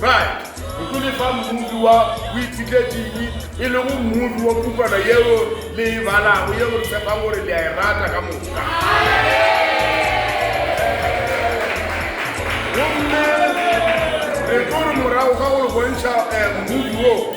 Right, go tlo le fa mmupi wa boiphihledinnyi, e lego mmupi wa pukwana yeo le e balago, yeo re tshepang gore le a e rata ka moka. Gomme re tlo re morago ga go le bontšha eh, mmupi wo,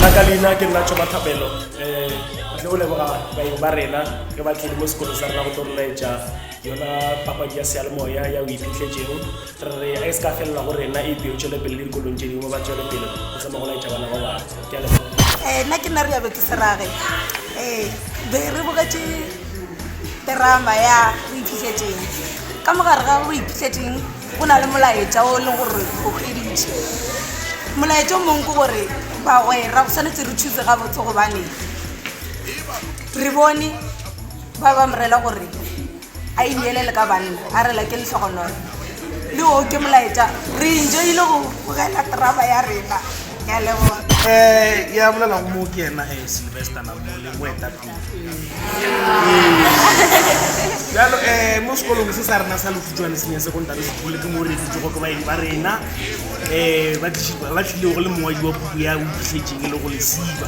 la ka leina ke nna tšhoba thapelo um eh, batle o leboga baeng ba rena ge ba tlile mo sekolo sa rena go tlo rolaetša yona papadi ya sealemoya ya o iphitlhetšeng re re a e se ka felela go rena e peo tšwele pele le dikolong tše dingwe ba tšwele pele go tsama go laetša bana ba bangwe ke a leboga um nna ke nna re yabe ke serage um eh, be re bogetše terama ya o iphitlhetšeng ka mogare ga o iphitlhetšeng Go na le molaetša o le gore o kheditše molaetša o mongwe ke gore bagwera go tshwanetse re thuse gabotse gobane re bone ba ba morela gore a ineele le ka banna a rela ke letlhogonolo le o ke molaetša re enjoile go bogela traba ya rena ya leboa um ya bolela go moo ke yena ge sylvester namole moeta jalo um mo sekolong se sa rena sa lefutšwane senya sekontari sekgole ke mo re dutsogo ke baeng ba rena um ba tlilego go le mongwadi wa puku ya o itlhetseng e le go lesiba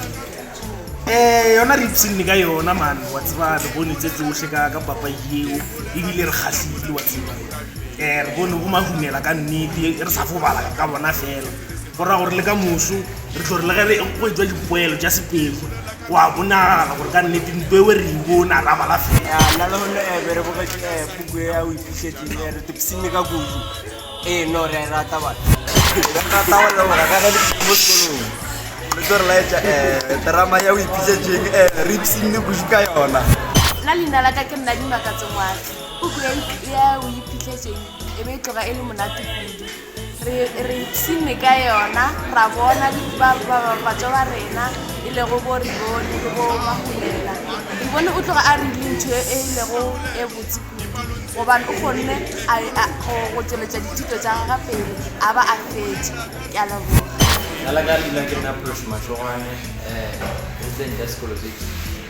um yona re ipsenne ka yona mane wa tseba re bone tse tsotlhe ka ka papa eo ebile re kgatlhile wa tseba um re bone go mahumela ka nnete re sa fobala ka bona fela go raya gore le ka moso re tlo re le ge go e tswa dipoelo tša sepedi Go a bonagala gore ka nnete ntwa eo re e bona ra bala fela. Ya nna lehono eh, be re bogetše eh, puku e ya o ipišetseng eh, re topsime ka kudu eh, no re a e rata bana re rata go leboga ka ge le mo sekolong le tlo re laetša eh, terama ya o ipišetseng eh, re ipsime kudu ka yona nna leina la ka ke nna dimakatsongwatsi puku ya o ipišetseng e be e tloga e le monate kudu Re, re ipshinne ka yona, ra bona di, ba, ba, ba, batšwa ba rena, e lego bo Ribone le bo Mahulela. Ribone o tloga a rile ntho e e lego e botse kudu, gobane o kgonne a, a, go, go tšweletša dithuto tša gagwe pele, a ba a fetše. Ke a leboga. Ka la ka dula ke nna Phološomatsogwane, um, Hintlentle Sekolo se Itseng.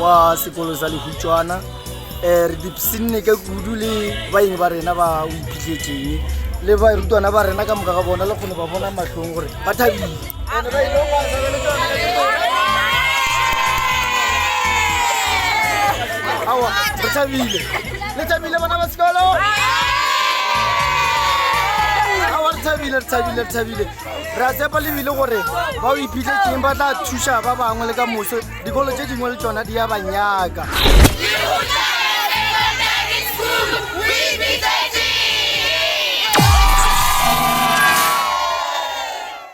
wa sekolo sa lehutšwana um re dipsinne ka kudu le baeng ba rena ba o iphitlhetseng le barutwana ba rena ka moka ga bona le kgone ba bona matlhong gore ba thabile awa re thabile le thabile bona ba sekolo awa re thabile re thabile re thabile re a tsepa lebile gore ba o iphitlhetseng ba tla thuša ba bangwe le ka moso Dikolo tše dingwe le tšona di ya ba nyaka.